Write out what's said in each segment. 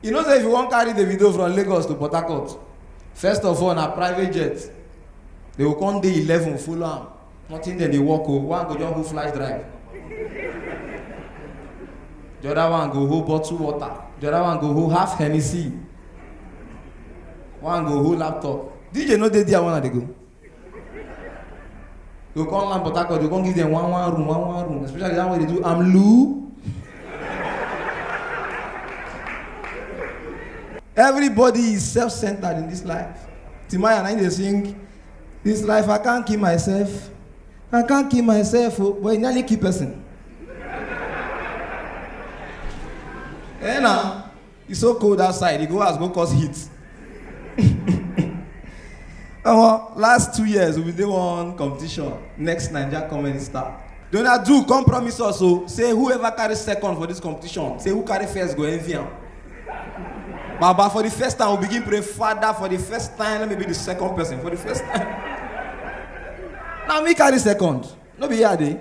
you know say if you wan carry the video from lagos to port harcourt first of all na private jet they go come dey eleven follow am nothing dem dey work o one go just go flash drive the other one go hold bottle water the other one go hold half hennessy one go hold laptop dj no dey there when i dey go. You go come land Port Harcourt, you go come give them one one room, one one room, especially that one wey dey do amlu. Everybody is self-centered in this life. Timaya na him dey sing, this life I can't kill myself, I can't kill myself o, but e nearly kill person. Eh na. It's so cold outside. You go house, go cause heat. Omo, last two years, we been dey one competition. Next Naija comedy star. Donald Duke come promise us o say whoever carry second for this competition, say who carry first go envy am. Baba, for the first time, we begin pray, Father, for the first time, let me be the second person. For the first time. now me carry second. No be here I dey.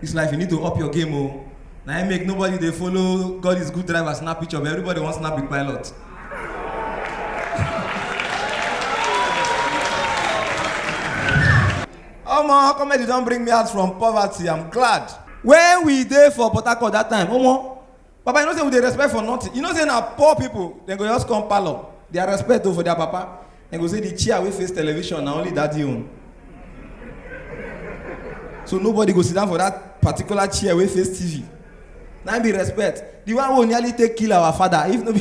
This life, you need to up your game, oh. Now I make nobody they follow God is good driver, snap picture, but everybody wants snap big pilot. Omo, comedy don't bring me out from poverty. I'm glad. When we there for Port Harcourt that time, Omo, Papa, you know say we dey respect for nothing. You know say na poor people dem go just come parlour. Their respect o for their papa. Dem go say the chair wey face television na only daddy own. So nobody go sit down for that particular chair wey face TV. Na im be respect. The one wey nearly take kill our father if no be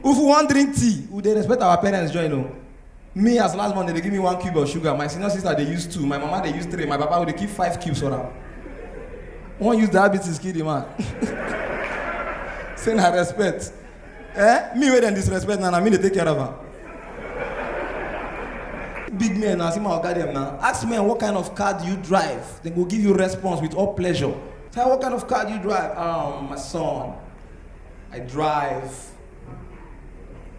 if we wan drink tea we dey respect our parents join o. me as last born dem dey give me one cube of sugar my senior sister dey use two my mama dey use three my papa go dey keep five cubes for am wan use diabetes kill the man say na respect eh me wey dem disrespect na na me dey take care of am big men na see my oga dem na ask men what kind of car do you drive dem go give you response with all pleasure say what kind of car do you drive um my son i drive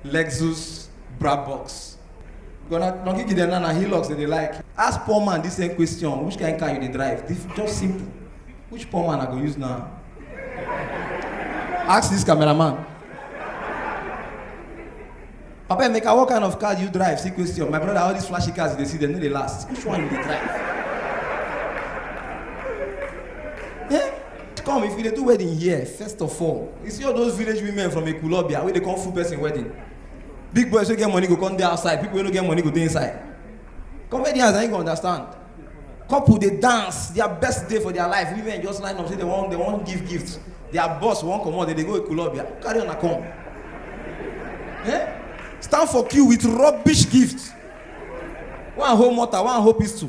Lexus Brabus. Gonna not give them na Hilux that they like. Ask poor man this same question: Which kind of car you dey drive? This just simple. Which poor man I go use now? Ask this cameraman. Papa Emeka, what kind of car do you drive? See question. My brother, all these flashy cars they see, they know they last. Which one you dey drive? come if you dey do wedding here first of all you see all those village women from ekulobia wey dey come full person wedding big boys wey get money go come dey outside people wey no get money go dey inside comedians na you go understand couple dey dance their best day for their life women just line up say they wan they wan give gift their boss wan comot they dey go ekulobia carry una come eh stand for queue with rubbish gift one hold mortar one hold pistol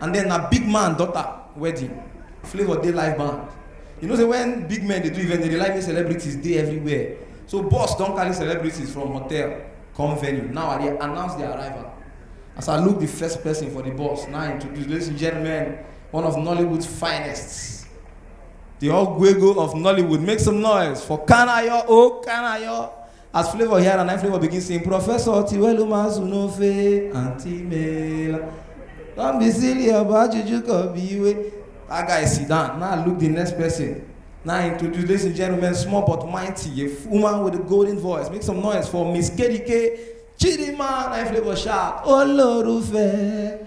and then na big man daughter wedding flavour dey live band you know say when big men dey do event they dey like make celebrities dey everywhere so boss don carry celebrities from hotel come venue now i dey announce their arrival as i look the first person for the bus now i introduce ladies and gentlemen one of nollywood's finest the ogwego of nollywood make some noise for kanayo o kanayo As Flavor hear am, na im Flavor begin sing, Professor Tiwelu Mazunofe, Aunty Mela. Don't be silly about Juju Kobiwe. That guy sit down. Now look the next person. Now I introduce, ladies and gentlemen, small but mighty, a f- woman with a golden voice. Make some noise for Miss Kedike Chidima. Now Flavor shout, Olorufe.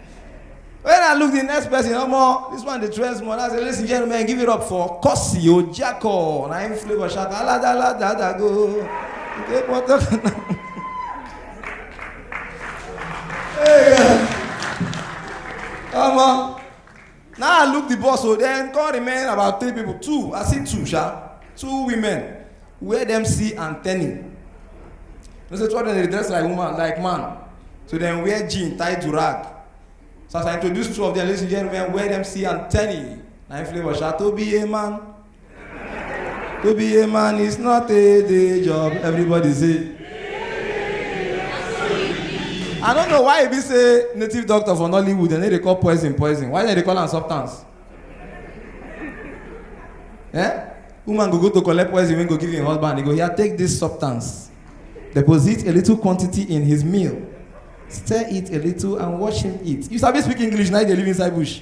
When I look the next person, no more. This one, the trends more. I say, ladies and gentlemen, give it up for Kosi Ojako. Na him flavor shout, ala da la da da go. Take one, take one. Hey, yeah. Come on. Na I look the bus o, then come remain about three people, two, I see two sha, two women wear dem see and tenny. No say two of them dey dress like woman, like man, so dem wear jean tie durag. So as I introduce two of them, ladies and gentlemen, wear dem see and tenny. Na im flavour sha, to be a man. To be a man is not a day job. Everybody say. I don't know why e be say native doctor for Nollywood dem no dey call poison poison. Why dem dey call am substance? Eh? Woman go go to collect poison wey go give im husband, e go hear take this substance. Deposit a little quantity in his meal. Stir it a little and watch him eat. You sabi speak English na you dey live inside bush.